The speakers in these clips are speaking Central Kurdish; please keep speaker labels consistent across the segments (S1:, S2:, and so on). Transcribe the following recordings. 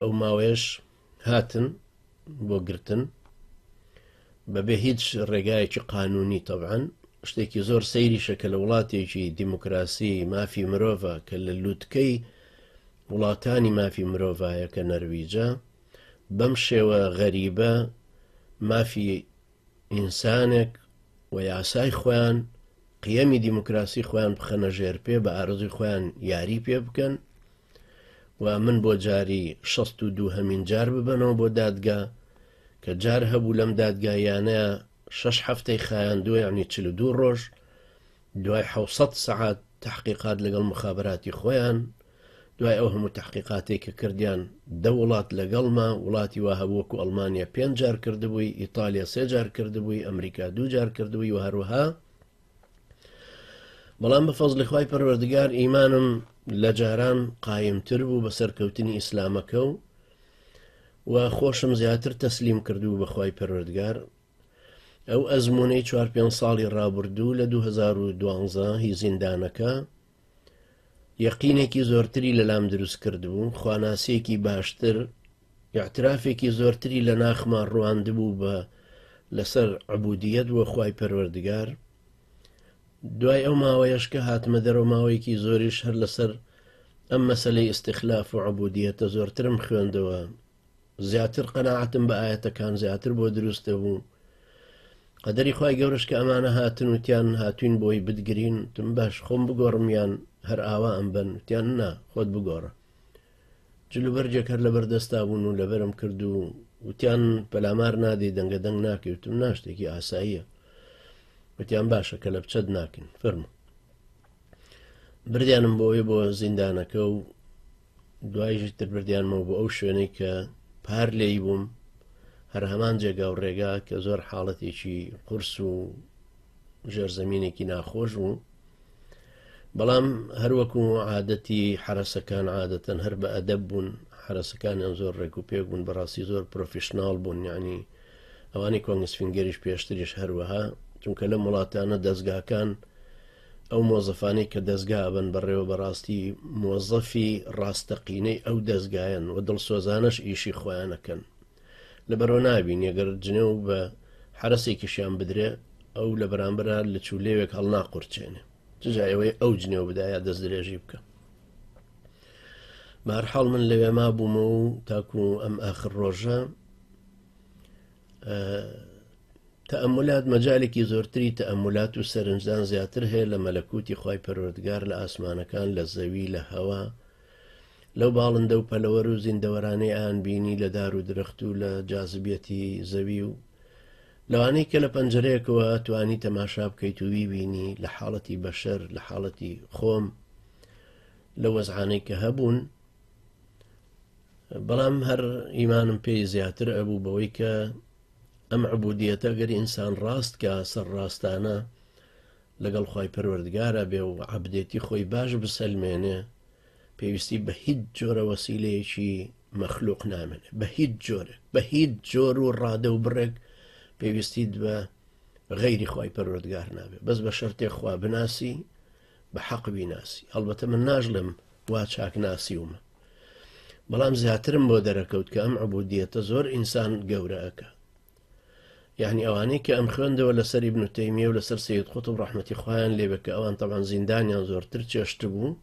S1: ئەو ماوەیەش هاتن بۆ گرتن بەبێ هیچ ڕێگایەکی قانونی تەبعاان شتێکی زۆر سەیریشە کە لە وڵاتێکی دیموکراسی مافی مرۆڤە کە لە لووتکەی وڵاتانی مافی مرۆڤایە کە نەرویجە بەم شێوە غەریبە مافی ئینسانێک و یاسای خۆیان قیەمی دیموکراسی خۆیان بخەنە ژێر پێ بە ئارزوی خۆیان یاری پێ بکەن و من بۆ جاری 16 هەمین جار ببەنەوە بۆ دادگا کە جار هەبوو لەم دادگایانە شش هەفتەی خایان دوێ عنی چل دوو ڕۆژ دوای حوسەت سەعات تحقیقات لەگەڵ مخابراتی خۆیان دوای ئەو هەموو تەحقیقاتەی کە کردیان دە وڵات لەگەڵمە، وڵاتی وا هەبوو وەکو ئەڵمانیا پێنج جار کردبووی، ئیتالیا سێ جار کردبووی، ئەمریکا دوو جار کردبووی و هەروەها بەڵام بە فەزلی خوای پەروەردگار ئیمانم لە جاران قایمتر بوو بە سەرکەوتنی ئیسلامەکە و و خۆشم زیاتر تەسلیم کردو بەخوای پەروەردگار ئەو ئەزمونەی چوار پێ ساڵی ڕابردوو لە 2012 هی زیندانەکە یەقینێکی زۆرتری لەلام دروست کردبوو خواناسیەکی باشتر یاعترافێکی زۆرتری لە ناخمان ڕواندبوو بە لەسەر عبودیەت بۆ خی پەروەردگار دوای ئەو ماوەیەش کە هاتمە دەرەوە ماوەیەکی زۆریش هەر لەسەر ئەم مەسلەی ئیسیخلاف و عبودیەتە زۆرترم خوێندەوە زیاتر قەناعەتم بە ئایەتەکان زیاتر بۆ دروستە بوو قەدەری خی گەورش کە ئەمانە هاتن وتیان هاتوین بۆی بدگرین تم باش خۆم بگۆڕمیان هەر ئاوا ئەم بن وتیان نا خۆت بگۆڕە جلوبەرجێک هەر لەبەردەستا بوون و لەبەرم کرد و وتیان پەلامار نادەی دەنگە دەنگ ناکەوتم ناشتێکی ئاساییە وتیان باشە کە لە بچەت ناکەین فەرمو بردیانم بۆی بۆ زیندانەکە و دوایش تر بردیانمەوە بۆ ئەو شوێنەی کە پار لێی بووم هەر هەمان جێگا و ڕێگا کە زۆر حاڵەتێکی قرس و ژێرزەمینێکی ناخۆش بوو بەڵام هەروەکو عادەتی حرەسەکان عادەتەن هەر بە ئەدەب بوون حرەسەکانیان زۆر ڕێک و پێک بوون بەڕاستی زۆر پرۆفیشنناڵ بوون یعنی ئەوانی کۆنگسفینگەریش پێشتریش هەروەها چونکە لەم وڵاتانە دەستگاکان ئەو مۆزەفانەی کە دەزگا ئەبەن بەڕێوە بەڕاستی مۆزەفی ڕاستەقینەی ئەو دەزگایەن و دڵسۆزانەش ئیشی خۆیانەکەن لەبەرەوە نابین یەگەر جنێ و بە حرەسێکیشیان بدرێ ئەو لە بەرامبرا لە چوو لێوێک هەڵناقورچێنێ ججا ئەوەی ئەو جنێو بدایە دەست درێژی بکە بارحاڵ من لەوێ ما بوومە و تاکو ئەم ئاخر ڕۆژە تەئەمولات مەجالێکی زۆرتری تەئەمولات و سەرنجدان زیاتر هەیە لە مەلەکوتی خی پەروەردگار لە ئاسمانەکان لە زەوی لە هەوا لەو باڵندە و پەلەوەر و زیندەوەرانەی ئان بینی لە دار و درەخت و لە جاذبیەتی زەوی و لەوانەی کە لە پەنجەرەیەکەوە توانی تەماشا بکەیت و ویبینی لە حاڵەتی بەشەر لە حاڵەتی خۆم لە وەزعانەی کە هەبوون بەڵام هەر ئیمانم پێی زیاتر ئەبوو بەوەی کە ئەم عبودیەتە گەر ئینسان ڕاست کە سەر ڕاستانە لەگەڵ خی پەروەردگارە بێ و عبدێتی خۆی باش بسەلمێنێ پێویستی بە هیچ جۆرە وەسیلەیەکی مەخلوق نامێنێ بە هیچ جۆرێک بە هیچ جۆر و ڕادە و بڕێک پێویستیت بە غەیری خی پەروەردگار نابێت بەس بە شەرتێک خوا بناسی بە حەق بیناسی هەڵبەتە من ناژڵم وا چاک ناسیومە بەڵام زیاترم بۆ دەرەکەوت کە ئەم عبودیەتە زۆر ئینسان گەورەکە یعنی ئەوانەی کە ئەم خوێندەوە لەسەری بنوتەیمیە و لەسەر سید قوت و ڕحمەتی خۆیان لێبێ کە ئەوان تەوان زیندانیان زۆرتر چێشت بوو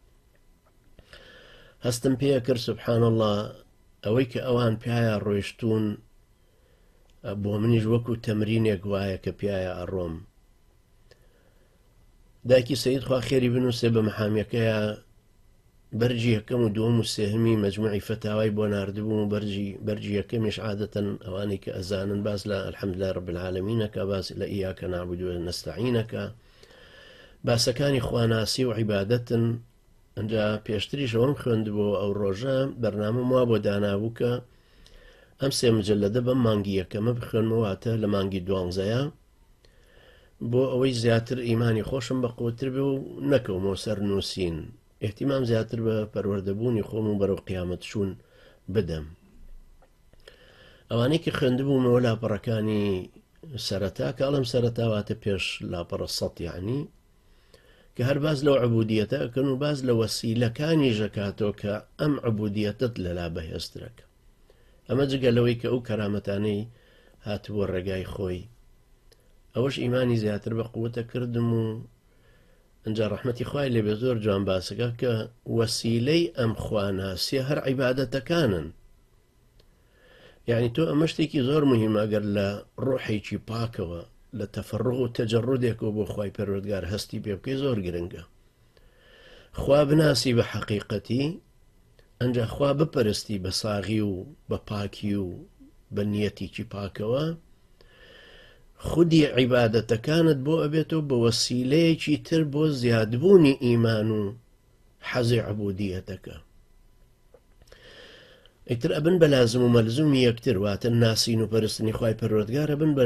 S1: هەستم پێ کرد سبحان الله ئەوەی کە ئەوان پیاە ڕۆیشتون بۆ منیش وەکو تەمرینێک وایە کە پیاە ئەڕۆم دایکی سید خوا خێری بنووسێ بە محامیەکەیە بەرگی یەکەم و دووەم و سێهەمی مەجموعی فەتاوای بۆ ناردبووم و بەرجی بەرجی یەکەمیش عادەتەن ئەوانەی کە ئەزانن باز لە الحەمدلله رب العالمینەکە باز لە ئیاکە نعبد و نستعینەکە باسەکانی خواناسی و عیبادەتن ئەجا پێشتریش ئەوم خوێندبوو ئەو ڕۆژە بەرنامە وا بۆ دانابوو کە ئەم سێ مجللەدە بەم مانگی یەکەمە بخوێنمەواتە لە مانگی دوانزەیە بۆ ئەوەی زیاتر ئیمانی خۆشم بە قوتر بێ و نەکەومەوە سەر نووسین ئحتیمام زیاتر بە پەروەردەبوونی خۆم و بەرەو قیامەت چوون بدەم ئەوانەی کە خوێندبوومەوە لاپەڕەکانی سەرەتا کە ئەڵم سەرەتاواتە پێش لاپەڕە سەتیانی کە هەر باز لەو عبودیەتە ئەکەن و باز لە وەسیلەکانی ژەکاتەوە کە ئەم عبودیەتت لەلا بەهێزترەکە ئەمە جگە لەوەی کە ئەو کەرامەتانەی هاتبووە ڕێگای خۆی ئەوەش ئیمانی زیاتر بە قوتە کردم و ئەجا ڕحمەتی خوای لێبێ زۆر جوان باسەکە کە وەسیلەی ئەم خواناسیە هەر عیباەتەکانن یعنی تۆ ئەمە شتێکی زۆر مهمە گەر لە ڕۆحێکی پاکەوە لە تەفرغ و تەجەڕودێکەوە بۆ خی پەروەردگار هەستی پێ بکەی زۆر گرنگە خوا بناسی بە حەقیقەتی ئەنجا خوا بپەرستی بە ساغی و بە پاکی و بە نیەتیکی پاکەوە خودی عیباەتەکانت بۆ ئەبێتەوە بە وەسیلەیەکی تر بۆ زیادبوونی ئیمان و حەزی عبودیەتەکە ئیتر ئەبن بە لازم و مەلزومی یەکتر واتە ناسین و پەرستنی خی پەرۆتگار ئەبن بە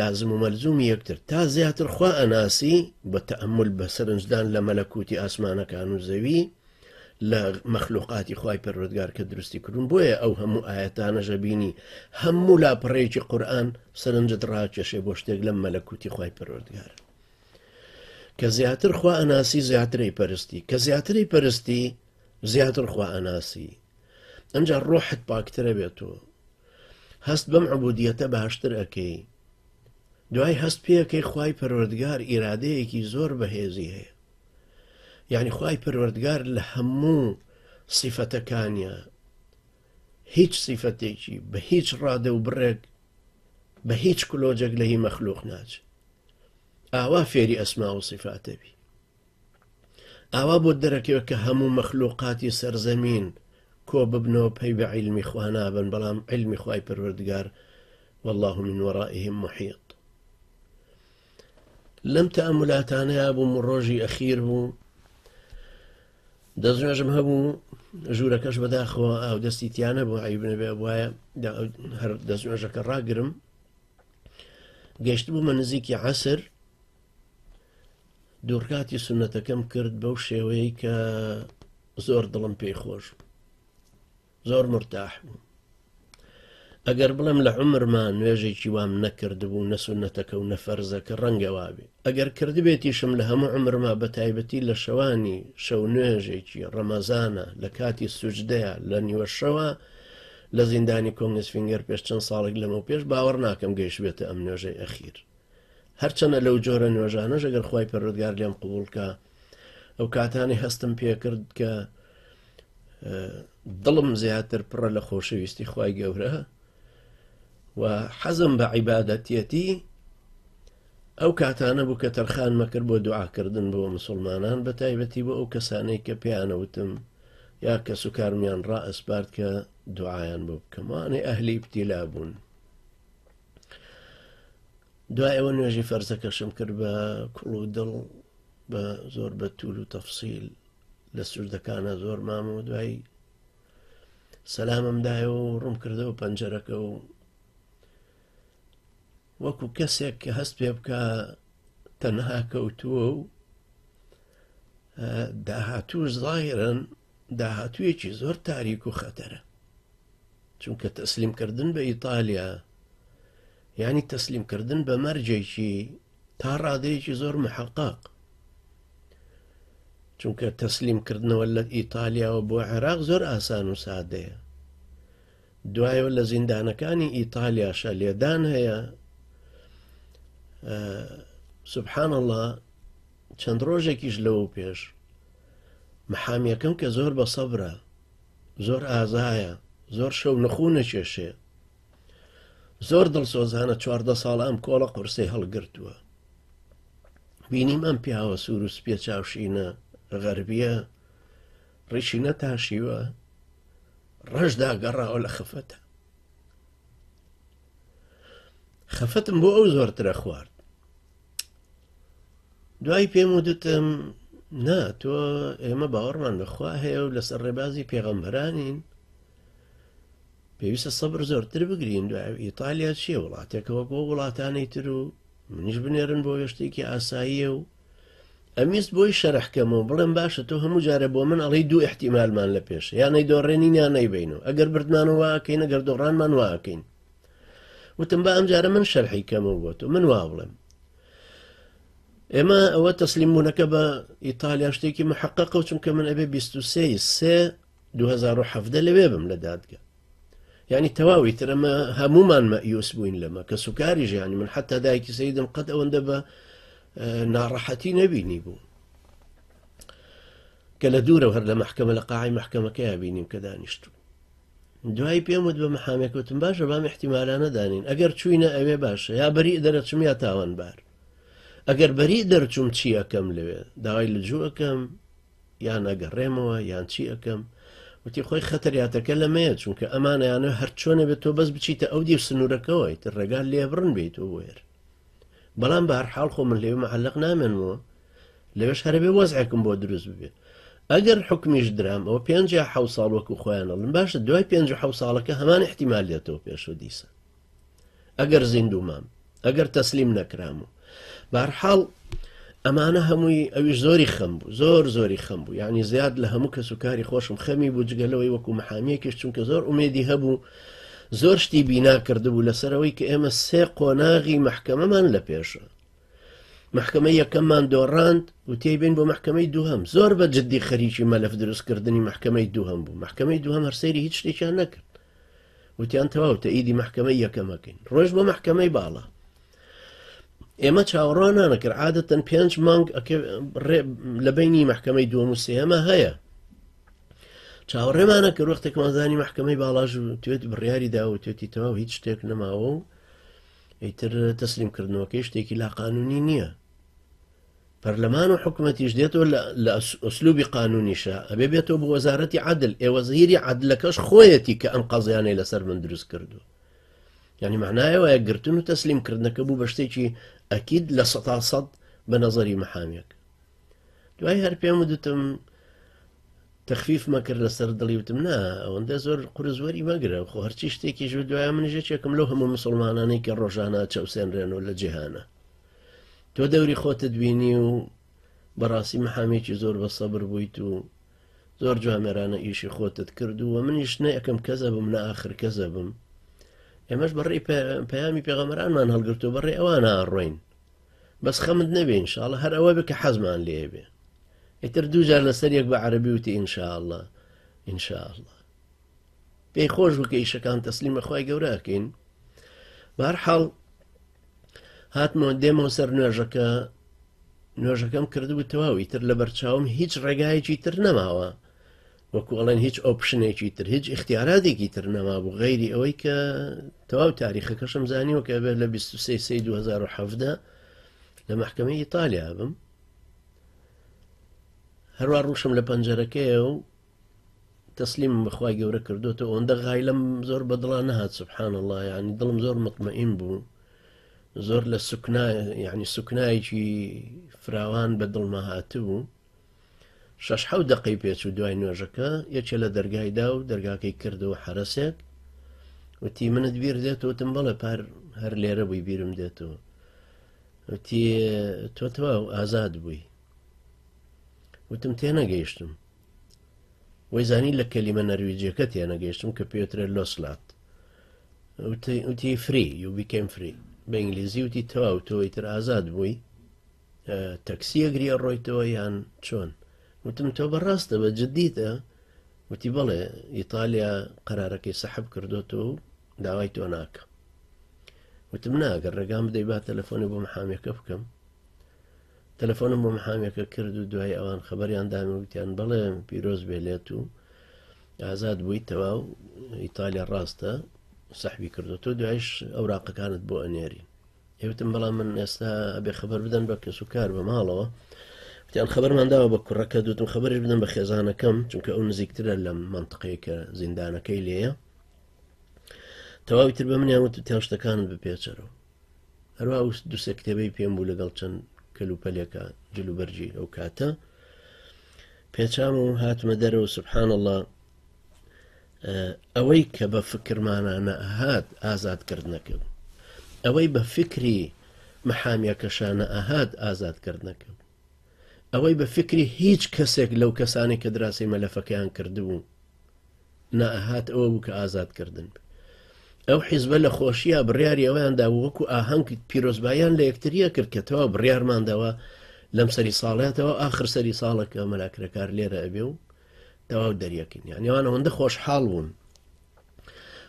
S1: لازم و مەلزومی یەکتر تا زیاتر خوا ئەناسی بە تەمل بە سەرنجدان لە مەلەکوتی ئاسمانەکان و زەوی لە مەخلوقاتی خی پەرۆتگار کە دروستی کردون بۆیە ئەو هەموو ئاەتانە ژەبینی هەموو لا پڕێکی قورآن سەرنجت ڕاکێشێ بۆ شتێک لەم مەلەکوتی خی پەرۆتگار کە زیاتر خوا ئەناسی زیاتری پەرستی کە زیاتری پەرستی زیاتر خوا ئەناسی ئەمجا ڕۆحت پاکترە بێت و هەست بەم عبودیەتە باشتر ئەەکەی دوای هەست پێەکەی خی پەروەردگار ئیرادەیەکی زۆر بەهێزی هەیە یعنی خی پەروەردگار لە هەموو سیفەتەکانە هیچ سیفەتێکی بە هیچ ڕادە و بڕێک بە هیچ کلۆجێک لە هی مەخلوق ناچ ئاوا فێری ئەسما و سیفاتەبی ئاوا بۆت دەرەکەوێت کە هەموو مەخلوقاتی سەر زەمین کۆ ببنەوە پەی بە عیلمی خوا نابن بەڵام عیلمی خوای پەروەردگار والله من وەڕائهم محیط لەم تەمولاتانەیە بووم و ڕۆژی ئەخیر بوو دەستنوێژم هەبوو ژوورەکەش بەداخەوە ئاو دەستی تیانە بۆ عیبنەبێ وایە هەر دەستنوێژەکە ڕاگرم گەشت بوومە نزیکی عسر دوڕکاتی سونەتەکەم کرد بەو شێوەیە کە زۆر دڵم پێی خۆش زۆر مرتاح بوو ئەگەر بڵێم لە عمرما نوێژێکی وام نەکردبوو نەسونەتەکە و نەفەرزەکە ڕەنگەوابێ ئەگەر کردبێتیشم لە هەموو عمرما بە تایبەتی لە شەوانی شەو نوێژێکی ڕەمەزانە لە کاتی سوجدەیە لە نیوەشەوە لە زیندانی کۆنگسفینگەر پێش چەند ساڵێک لەمە پێش باوەڕ ناکەم گەیشبێتە ئەم نوێژەی ئەخیر هەرچەنە لەو جۆرە نوێژانەش ئەگەر خوای پەروەردگار لێم قبول کا ئەو کاتانی هەستم پێکرد کە دڵم زیاتر پڕە لە خۆشەویستی خوای گەورە و حەزم بە عیباەتەتی ئەو کاتانە بوو کە تەرخان مەکرد بۆ دوعاکردن بۆ مسلمانان بە تایبەتی بۆ ئەو کەسانەی کە پێیانەوتم یا کەس و کارمیان ڕائسپارد کە دوعاان بۆ بکەمانێ ئەهلی پتیلا بوون دوای ئەوە نوێژی فەرزەکەشم کرد بە کوڵ و دڵ بە زۆر بە تول و تەفسیل لە سوودەکانە زۆر مام و دوایی سەلاممدایە و ڕوم کردەوە پەنجەرەکە و وەکو کەسێک کە هەست پێ بکە تەنها کەوتووە و داهاتوو زاهرن داهاتوویەکی زۆر تاریک و خەتەرە چونکە تەسلیمکردن بە ئیتالیا ینی تەسلیمکردن بە مەرجێکی تا ڕادەیەکی زۆر محقق چونکە تەسلیمکردنەوە لە ئیتالیاوە بۆ عێراق زۆر ئاسان و سادەیە دوایەوە لە زیندانەکانی ئیتالیاشە لێدان هەیە سبحان الله چەند ڕۆژێکیش لەوە پێش محامیەکەم کە زۆر بە سەبرە زۆر ئازایە زۆر شەو نخوو نەکێشێ زۆر دڵسۆزانە چواردە ساڵە ئەم کۆڵە قورسەی هەڵگرتووە بینیم ئەم پیاوە سوور و سپێ چاوشینە غەربیە ڕیشی نەتاشیوە ڕەشدا گەڕاوە لە خەفەتە خەفەتم بۆ ئەو زۆرترە خوارد دوای پێم ودتم نا تۆ ئێمە باوەڕمان بەخوا هەیە و لەسەر ڕێبازی پێغەمبەرانین پێویستە سەبر زۆرتر بگرین دوای ئیتالیا چیە وڵاتێکەوە بۆ وڵاتانی تر و منیش بنێرن بۆ وێشتێکی ئاساییە و ئەمیست بۆی شەرحکەم و بڵێم باشە تۆ هەموو جارە بۆ من ئەڵی دوو احتیمالمان لە پێش یانەی دۆڕێنین یانەی بین و ئەگەر بردمانەوەکەین ئەگەر دۆڕانمان واکەین وتم با ئەم جارە من شەرحی کەمەوە بۆ تۆ من وا بڵێم ئێمە ئەوە تەسلیم بوونەکە بە ئیتالیا شتێکی محققە و چونکە من ئەبێ 23 سێ 2017 لەوێ بم لە دادگە ینی تەواوی ترەمە هەمومان مەیوس بووین لەمە کە سوکاری ژیانی من حتا دایکی سیدم قەت ئەوەندە بە ناڕەحەتی نەبینی بوو کە لە دوورە هەر لە محکمە لە قاعی محکمەکەی بینیم کە دانیشتوو دوایی پێم وت بە محامێک وتم باشە بام احتیمالانە دانین ئەگەر چوینە ئەوێ باشە یا بەری دەرەچم یا تاوانبار ئەگەر بەری دەرچوم چی ئەەکەم لەوێ داوای لە جووەکەم یان ئەگەڕێمەوە یان چی ئەەکەم وتی خۆی خەتەریاتەکە لەمەیە چونکە ئەمانەیانە هەر چۆنە بێت تۆ بەس بچیتە ئەو دیو سنوورەکەەوەیت ڕێگال لێبڕن بیت و وێر بەڵام بە هەرحاڵ خۆ من لێمە عەلق نامێنەوە لەوێش هەرەبێ وەزعێکم بۆ دروست ببێ ئەگەر حکمیش درام ئەو پێ ح ساڵ وەکو خۆیان ئەڵم باشە دوای پێ ح ساڵەکە هەمان احتیمال دێتەوە پێش و دیسە ئەگەر زیندوو مام ئەگەر تەسلیم نەکرام و بارحاڵ ئەمانە هەمووی ئەوی زۆری خەم بوو زۆر زۆری خەم بوو یعنی زیاد لە هەموو کەس و کاری خۆشم خەمی بوو جگەلەوەی وەکو محامیەکیش چونکە زۆر ئومێدی هەبوو زۆر شتی بینا کردبوو لەسەرەوەی کە ئێمە سێ قۆناغی محکەمەمان لە پێشە مەحکەمەی یەکەممان دۆڕاند و تێبین بۆ مەحکەمەی دووهم زۆر بە جددی خەریکی مەلف دروستکردنی مەحکەمەی دووهم بوو مەحکەمەی دووهم هەرسەیری هیچ شتێکیان نەکرد وتیان تەواو تەئیدی مەحکەمەی یەکەمەکەین ڕۆژ بۆ مەحکەمەی باڵا ئێمە چاوەڕوانانەکرد عادەتەن پێنج مانگ لە بینی مەحکەمەی دووەم و سێمە هەیە چاوەڕێمانە کە وەختێکمانزانی مەحکەمەی باڵاژ توێت بڕیاری داوتێتی تەواو هیچ شتێک نەماوە و ئیتر تەسلیم کردنەوەکەی شتێکی لا قانونی نییە پەرلەمان و حکوومەتیش دێتەوە لە ئەسلوبی قانونیشە ئەبێ بێتەوە بۆ وەزارەتی عادل ئێوە زهیری عادلەکەش خۆیەتی کە ئەم قەزیانەی لەسەر من دروست کردو ینی معنایەوە گرتن و تەسلیم کردنەکە بوو بە شتێکی ئەکید لە سە سەد بە نەزەری محامیەک دوای هەر پێم وتم تەخفیف مەکرد لەسەر دڵی وتم نا ئەوەندە زۆر قرزوەری مەگرە خۆ هەرچی شتێکی ژو دوای من ژێچێکم لەو هەموو مسلمانانەی کە ڕۆژانە چەوسێنرێن و لە جیهانە تۆ دەوری خۆتە دوینی و بەڕاستی محامێکی زۆر بە سەبر بوویت و زۆر جوامێرانە ئیشی خۆتت کرد و منیش نە یەکەم کەزە بم نە ئاخر کەزە بم ئێمەش بەڕێ پەیامی پێغەمەرانمان هەڵگرتو بەڕێ ئەوان ئاڕۆین بەس خەمت نەبێ ان شاءاللە هەر ئەوە بێ کە حەزمان لێیە بێ ئیتر دوو جار لەسەر یەک بە عەرەبی وتی ان شاءاللە ان شاءاللە پێی خۆش بوو کە ئیشەکان تەسلیمە خوای گەورە ئەکەین بەهەر حاڵ هاتمەوە دێمەوە سەر نوێژەکە نوێژەکەم کردبوو تەواو ئیتر لە بەرچاوم هیچ ڕێگایەکی تر نەماوە وەکو ئەڵێن هیچ ئۆپشنێکی تر هیچ اختیاراتێکی تر نەمابوو غیری ئەوەی کە تەواو تاریخەکەشم زانیوە کە بێت لە 23 2017 لە محکمە ئیتالیا بم هەروە ڕوشم لە پەنجەرەکەی و تەسلیم بەخوای گەورە کردوتە ئەوەندە غایلم زۆر بەدڵا نەهات سبحان الله ینی دڵم زۆر مطمئین بوو زۆر لە سوکنا ینی سوکنایەکی فراوان بە دڵمە هاتبوو شەش حەوت دەقەی پێچوو دوای نوێژەکە یەکێ لە دەرگای دا و دەرگاکەی کردەوە حرەسێک وتی منت بیر دێت وتم بەڵێ پار هەر لێرە بووی بیرم دێتەوە وتی تۆ تەواو ئازاد بووی وتم تێنەگەیشتم وەی زانی لە کەلیمە نەرویجیەکە تێنەگەیشتم کە پێترە لۆسلات وتی فری یوبیکەم فری بە ئینگلیزی وتی تەواو تۆی تر ئازاد بووی تەکسیەک ری ئەڕۆیتەوە یان چۆن وتم تۆ بەڕاستە بە جددیتە وتی بڵێ ئیتالیا قەرارەکەی سەحب کردوەوە و داوای تۆ ناکە وتم ناگەر ڕێگام بدەی با تەلەفۆنی بۆ محامەکە بکەم تەلەفۆنم بۆ محامەکە کرد و دوای ئەوان خبریان دامی وتیان بڵێ پیرۆز بێلێت و ئازاد بووی تەواو ئیتالیا ڕاستە سەحبی کردو تۆ دوایش ئەو راقەکانت بۆ ئەنێری ئێوتم بەڵام من ئێستا ئەبێ خبر بدەن بە کەس و کار بە ماڵەوە وتیان خبرمان داوە بە کوڕەکە دوتم خبرش بدەن بە خێزانەکەم چونکە ئەو نزیکترە لەم منطقەیە کە زیندانەکەی لێە تەواوی تر بە منیان وت تیان شتەکانت بپێچەرەوە هەروە ئەو دوسێ کتێبەی پێم بوو لەگەڵ چەند کەلوپەلێکە جلوبەرجی ئەو کاتە پێچام و هاتمە دەرەوە سبحان الله ئەوەی کە بە فکرمانانە ئەهات ئازادکردنەکەم ئەوەی بە فکری محامیەکەشانە ئەهات ئازادکردنەکەم ئەوەی بە فکری هیچ کەسێک لەو کەسانی کە دراسی مەلەفەکەیان کردبوو نەهات ئەوە بوو کە ئازادکردن ئەو حیزبە لە خۆشیە بڕیاری ئەویاندا وەکو ئاهەنگ پیرۆزبایان لە یەکتریە کرد کە تەوا بڕیارماندەوە لەم سەری ساڵاتەوە ئاخر سەری ساڵەکە مەلاکرەکار لێرە ئەبێ و تەواو دەریەکەین یان یان ئەوەندە خۆشحاڵ بوون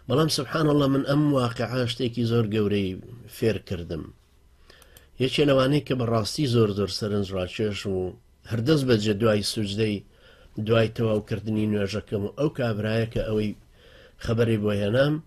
S1: بەڵام سبحان الله من ئەم واقع شتێکی زۆر گەورەی فێرکردم یەکێ لەوانەیە کە بەڕاستی زۆر زۆر سەرنجڕاکێش و هەردەست بەجێ دوای سوجدەی دوای تەواوکردنی نوێژەکەم و ئەو کابرایە کە ئەوەی خەبەری بۆ هێنام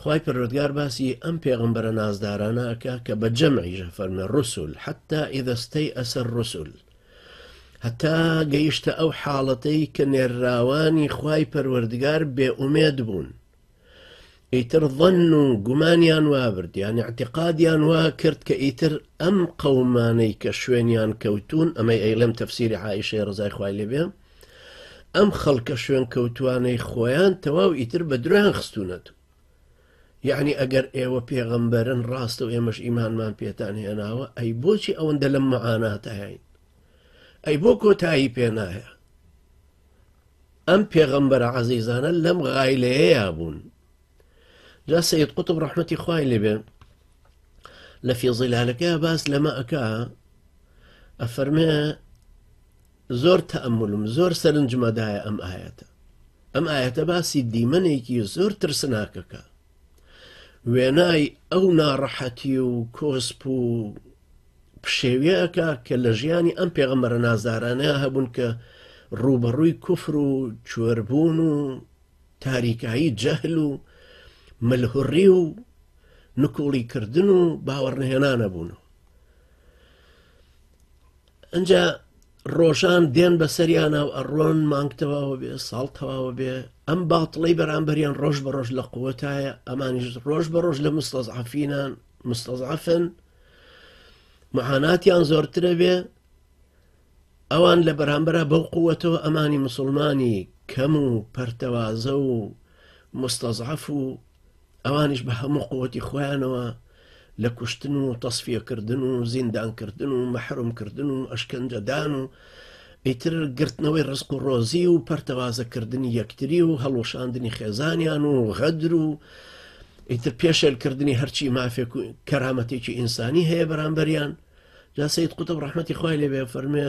S1: خوای پەروەردگار باسی ئەم پێغەمبەرە نازدارانە ئەکا کە بە جەمعیش فەرمێ ڕسول حتا ئیدەستەی ئەسەر ڕسول هەتا گەیشتە ئەو حاڵەتەی کە نێرراوانی خوای پەروەردگار بێ ئومێد بوون ئیتر ظن و گومانیان وابرد یان اعتقادیان وا کرد کە ئیتر ئەم قەومانەی کە شوێنیان کەوتون ئەمەی ئەیڵێم تەفسیری عیشەی ڕزای خوای لێ بێ ئەم خەڵکە شوێن کەوتوانەی خۆیان تەواو ئیتر بە درۆیان خستونەت یعنی ئەگەر ئێوە پێغەمبەرن ڕاستە و ئێمەش ئیمانمان پێتان هێناوە ئەی بۆچی ئەوەندە لەم مەعاناتەهین ئەی بۆ کۆتایی پێنایە ئەم پێغەمبەر عزیزانە لەم غایلەیەیا بوون جا سید قوتب ڕحمەتی خوای لێبێ لە فیزیلالەکە باس لەمە ئەک ئەفەرمێ زۆر تەئەمولم زۆر سەرنجمە دایە ئەم ئایەتە ئەم ئایەتە باسی دیمەنێکی زۆر ترسناکەکە وێنای ئەو ناڕەحەتی و کۆسپ و پشێویەکە کە لە ژیانی ئەم پێغەمەرە نازدارانە هەبوون کە ڕوبەڕووی کوفر و کوێربوون و تاریکایی جەهل و ملهڕی و نکوڵیکردن و باوەڕنهێنانە بوون ئەجا ڕۆژان دێن بە سەریانە و ئەڕۆن مانگ تەواوە بێ ساڵ تەواوە بێ ئەم باڵی بەرامبەریان ڕۆژ بە ڕۆژ لە قوتایە ئەمانیش ڕۆژ بە ڕۆژ لە مستەزعافینان مستەزعافن مەحاناتیان زۆرترە بێ ئەوان لە بەرامبەر بەو قوتەوە ئەمانی مسلمانی کەم و پەرتەوازە و مستەزعاف و ئەوانیش بە هەموو قوتی خۆیانەوە لە کوشتن و تەسفیەکردن و زیندانکردن و مەحرومکردن و ئەشکەنجەدان و ئیتر گرتنەوەی ڕسق و ڕۆزی و پەرتەوازەکردنی یەکتری و هەڵوشاندنی خێزانیان و غەدر و ئیتر پێشێلکردنی هەرچی مافێک و کەرامەتێکی ئینسانی هەیە بەرامبەریان جاسەیت قوتە ڕحمەتی خخوای لێبێ فەرمێ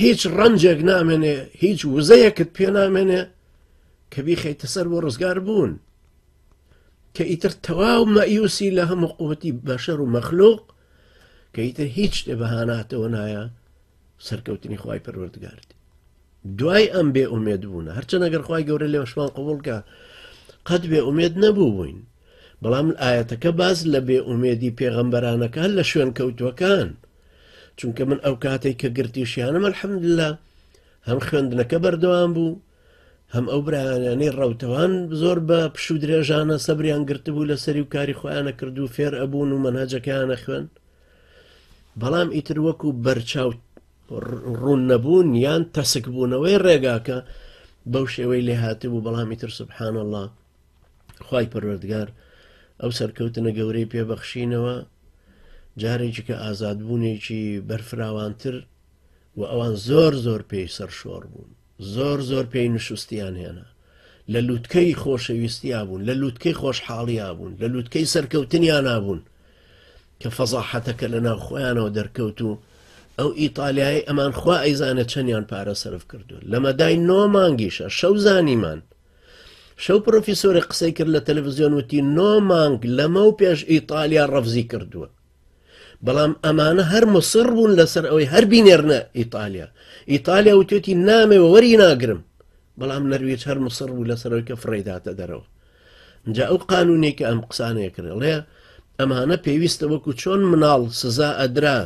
S1: هیچ ڕەنجێک نامێنێ هیچ وزەیەکت پێ نامێنێ کە بیخەیتە سەر بۆ ڕزگار بوون کە ئیتر تەواو مەیوسی لە هەموو قوتی بەشەر و مەخلوق کە ئیتر هیچ شتێ بەهاناتەوە نایە سەرکەوتنی خی پەروەردگارد دوای ئەم بێ ئومێد بوون هەرچەند ئەگەر خی گەورە لێوەشمان قوبولکە قەت بێ ئومێد نەبوو بووین بەڵام ئاەتەکە باز لە بێ ئومێدی پێغەمبەرانەکان لە شوێن کەوتوەکان چونکە من ئەو کاتەی کە گرتیشیانم الحمدللە هەم خوێندنەکە بەردەوام بوو هەم ئەو برایانەی ڕەوتەوان زۆر بە پشو درێژانە سەبریان گرتبوو لە سەری و کاری خۆیانە کردو فێر ئەبوون و منهجەکەیانە خوێن بەڵام ئیتر وەکو بەرچاو ڕوون نەبوون یان تەسک بوونەوەی ڕێگاکە بەو شێوەی لێ هاتبوو بەڵامی تر سبحان الله خوای پەروەردگار ئەو سەرکەوتنە گەورەی پێبەخشینەوە جارێکی کە ئازادبوونێکی بەرفراوانتر و ئەوان زۆر زۆر پێی سەرشۆڕ بوون زۆر زۆر پێی نشستیان هێنا لە لووتکەی خۆشەویستیا بوون لە لووتکەی خۆشحاڵیا بوون لە لووتکەی سەرکەوتنیان نابوون کە فەزاحەتەکە لە ناو خۆیانەوە دەرکەوت و ئەو ئیتالیایی ئەمان خوا ئەیزانە چەندیان پارە سرف کردو لەمەدای نۆ مانگیشە شەو زانیمان شەو پرۆفیسۆرێک قسەی کرد لە تەلەڤزیۆن وتی نۆ مانگ لەمە و پێش ئیتالیا ڕەفزی کردووە بەڵام ئەمانە هەر مسڕ بوون لەسەر ئەوەی هەر بینێرنە ئیتالیا ئیتالیا وتێتی نامێ وەری ناگرم بەڵام نەرویج هەر مسڕ بوو لەسەرەوەی کە فڕێداتە دەرەوە جا ئەو قانونێکە ئەم قسانەیە کرێڵێ ئەمانە پێویستە وەکو چۆن مناڵ سزا ئەدرا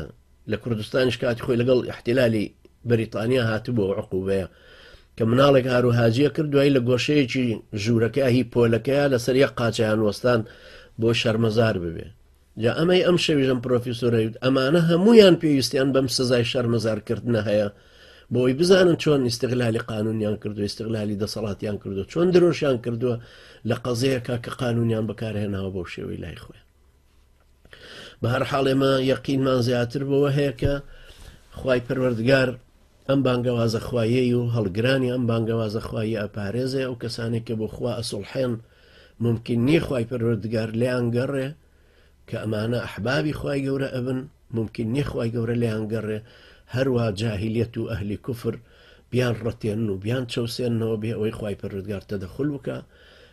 S1: لە کوردستانیش کاتی خۆی لەگەڵ احتیلالی بەریتانیا هاتبوو و عقوبەیە کە مناڵێک هارو هاجیە کرد دوایی لە گۆشەیەکی ژوورەکە هی پۆلەکەیە لەسەر یە قاچیان وەستان بۆ شەرمەزار ببێ جا ئەمەی ئەم شەویژم پرۆفیسۆرەوت ئەمانە هەمویان پێویستیان بەم سزای شەرمەزارکردنە هەیە بۆی بزانن چۆن ئیسیغلالی قانونیان کردو ئیسیغلالی دەسەڵاتیان کردو چۆن درۆشیان کردووە لە قەزەیەکە کە قانونیان بەکارهێناوە بۆ شێوەی لای خۆیان بەهەرحاڵ ئێمە یەقینمان زیاتر بەوە هەیە کە خی پەروەردگار ئەم بانگەوازە خوایی و هەڵگرانی ئەم بانگەوازە خوایی ئەپارێزێ ئەو کەسانێک کە بۆ خوا ئەسڵحێن ممکن نیە خی پەروەردگار لیان گەڕێ کە ئەمانە ئەحبابی خی گەورە ئەبن ممکن نیە خی گەورە لیان گەڕێ هەروە جاهلیت و ئەهلی کوفر بیان ڕەتێن و بیان چەوسێنەوە بێ ئەوەی خی پەرودگار تەدەخل بکە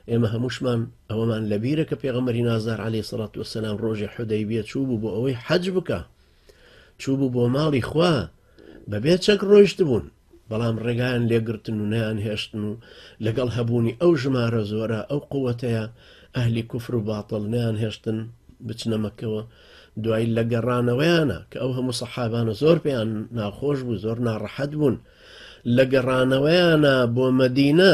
S1: ئێمە هەمووشمان ئەوەمان لە بیرە کە پێغەمەری نازدار عەلی سەڵات وسلام ڕۆژی حدەی بێ چوو بوو بۆ ئەوەی حەج بکە چوو بوو بۆ ماڵی خوا بەبێ چەک ڕۆیشت بوون بەڵام ڕێگایان لێگرتن و نیان هێشتن و لەگەڵ هەبوونی ئەو ژمارە زۆرە ئەو قوتەیە ئەهلی کوفر و باتڵ نیان هێشتن بچنەمەکەوە دوای لە گەڕانەوەیانە کە ئەو هەموو سەحابانە زۆر پێیان ناخۆش بوو زۆر ناڕەحەت بوون لە گەڕانەوەیانە بۆ مەدینە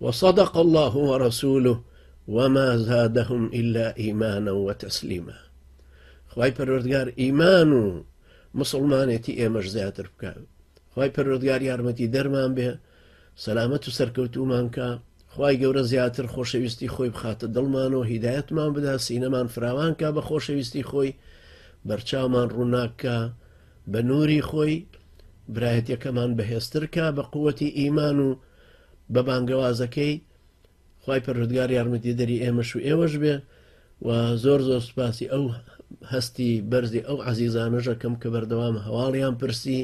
S1: وصدق اللە ورسولە وما زادهم الا ایمانا وتسلیما خوای پەروەردگار ئیمان و مسلمانێتی ئێمەش زیاتر بکە خی پەرۆردگار یارمەتی دەرمان بێ سەلامەت و سەرکەوتومانکە خی گەورە زیاتر خۆشەویستی خۆی بخاتە دڵمان و هیدایەتمان بدا سینەمان فراوانکە بە خۆشەویستی خۆی بەرچاومان ڕووناکە بە نووری خۆی برایەتەکەمان بەهێزترکە بە قوەتی ئیمان و بە بانگەوازەکەی خوای پەروەردگار یارمەتیدەری ئێمەش و ئێوەش بێ و زۆر زۆر سوپاسی ئەو هەستی بەرزی ئەو عزیزانەژەکەم کە بەردەوام هەواڵیان پرسی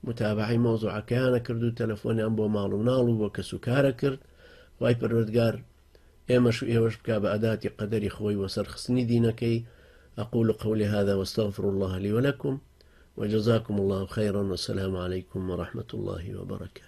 S1: متابعی مۆزوعەکەیانە کرد و تەلەفۆنیان بۆ ماڵ و ناڵ و بۆ کەس و کارە کرد وای پەروەردگار ئێمەش و ئێوەش بک بە ئەداتی قەدەری خۆی وەسەرخستنی دینەکەی أقول قولي هذا واستغفر الله لي ولكم وجزاكم الله خيرا والسلام عليكم ورحمة الله وبركاته